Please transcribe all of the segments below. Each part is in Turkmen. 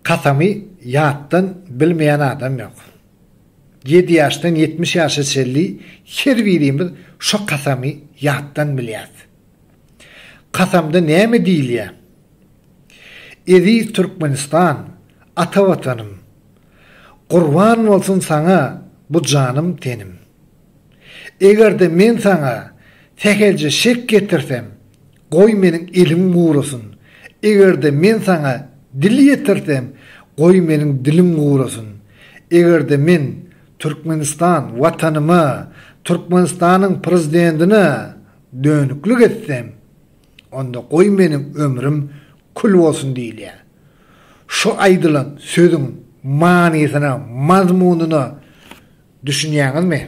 Kasamy ýatdan bilmeýän adam ýok. Ýedi ýaşdan ýetmiş ýaşa çenli her birimiz şo kasamy ýatdan bilýäs. Kasamda näme diýilýär? Eziz Türkmenistan, ata Watanym! Gurban bolsun saňa bu janym-tenim! Eger-de men saňa sähelje şek getirsem, Goý meniň elim gurasyn. Eger-de men saňa dil ýetirsem, goý meniň dilim gurasyn. Eger-de men Türkmenistan Watanyma, Türkmenistanyň Prezidentine dönüklik etsem, onda goý meniň ömrüm kül bolsun diýilýär. Şu aýdylan sözüň manysyna, mazmunyna düşünýäňizmi?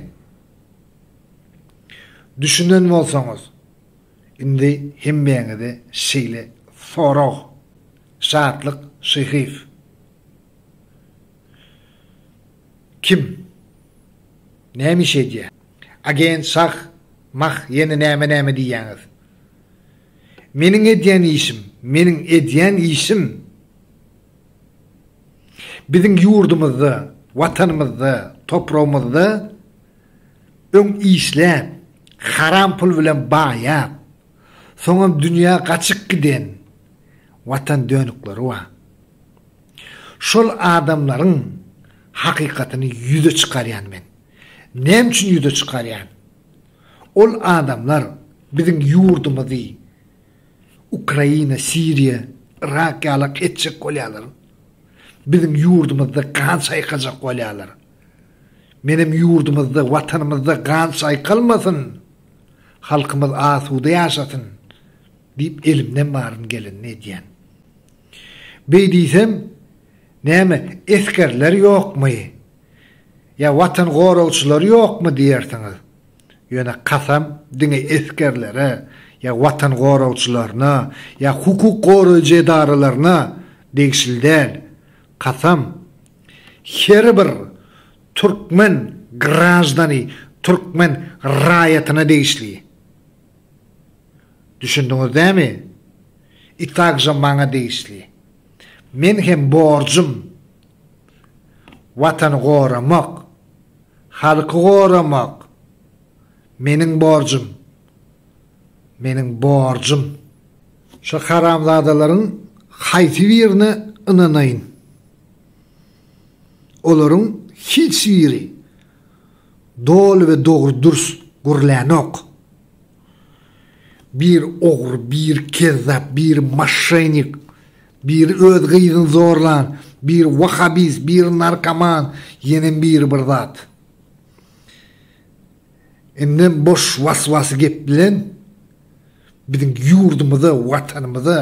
Düşünen bolsaňyz. Indi hemmäňize şeýle sorag, Şatlyk Şyhyýew kim? Näme iş edýär? Agent Şah Mah ýene näme-näme diýýäňiz? Meniň edýän işim, meniň edýän işim biziň ýurdumyzda, Watanymyzda, topragymyzda Öň işläp, haram pul bilen baýap, soňam dünýä gaçyp giden watan dönükleri bar. Şol adamlaryň hakykatyny ýüze çykarýan men. Näme üçin ýüze çykarýan? Ol adamlar biziň ýurdumyzy Ukraina, Siriýa, Yrak ýalak etjek bolýarlar. Biziň ýurdumyzda gan çaýkajak bolýarlar. Menem ýurdumyzda, Watanymyzda gan çaýkalmasyn, halkymyz asuda ýaşasyn diýip elimden baryny gelenini edýän. Beý diýsem, näme, esgerler ýokmy? Ýa watan goragçylary ýokmy diýersiňiz. Ýöne kasam diňe esgerlere ýa watan goragçylaryna ýa hukuk goraýjy edaralaryna degişli däl. Kasam! Her bir türkmen graždany türkmen raýatyna degişli. Düşündiňiz dämi? I takže maňa degişli. Men hem borjum Watany goramak, halky goramak. Meniň borjum. Meniň borjum. Şo haramzadalaryň haýsy birine ynanaýyn? Olaryň hiç biri doly we dogry-dürs gürlänok. Biri ogry, biri kezzap, biri moşşenik, biri öz gyzyny zorlan, biri wahabist, biri narkoman, ýenem biri bir zat. Indi boş was-was gep bilen biziň ýurdumyza, Watanymyza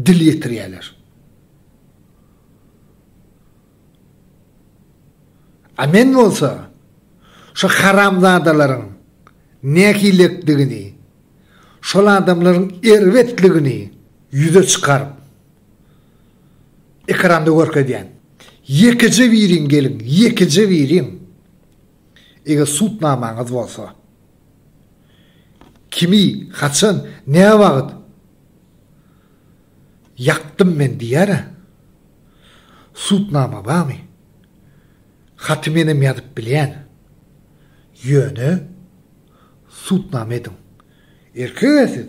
dil ýetirýärler. A men bolsa şu haramzadalaryň nähilekdigini, şol adamlaryň erbetligini ýüze çykaryp ekranda görkezýän. Ýekeje biriň geliň, ýekeje biriň. Eger sud namaňyz bolsa, kimi, haçan, näwagt ýakdym men diýer-ä? Sud nama barmy? Haty menem ýazyp bilýän. Ýöne sud nama ediň. Erkeg-ä siz.